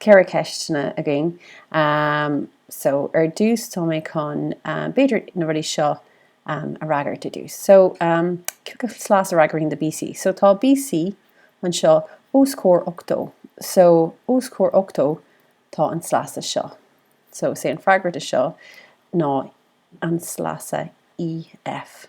ceithre ceisteanna againn. So, ar dtús, tá mé chun, b'fhéidir, na rudaí seo a fhreagairt ar dtús. So, cé acu sleasa a fhreagraíonn do BC? So, tá BC anseo os comhair ochtó. So, os comhair ochtó, tá an sleasa seo. So, is é an freagra do seo ná an sleasa EF.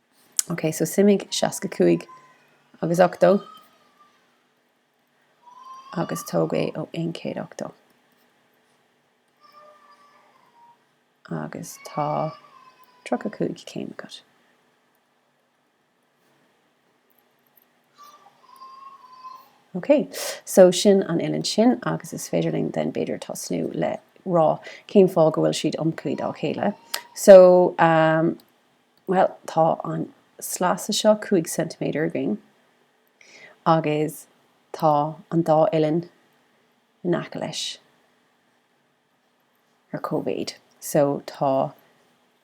OK, so suimigh 65 agus 80 agus tóg é ó 180. Agus tá 35 céim agat. OK, so sin an uillinn sin agus is féidir linn then b'fhéidir tosnú le rá cén fáth go bhfuil siad iomchuí dá chéile. So, Bhuel, tá an sleasa seo cúig ceintiméadar againn agus tá an dá uillinn in aice leis ar cóimhéid. So, tá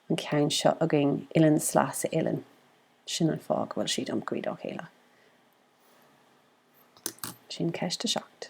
an ceann seo againn, uillinn, sleasa, uillinn. Sin an fáth go bhfuil siad iomchuí dá chéile. Sin ceist a seacht.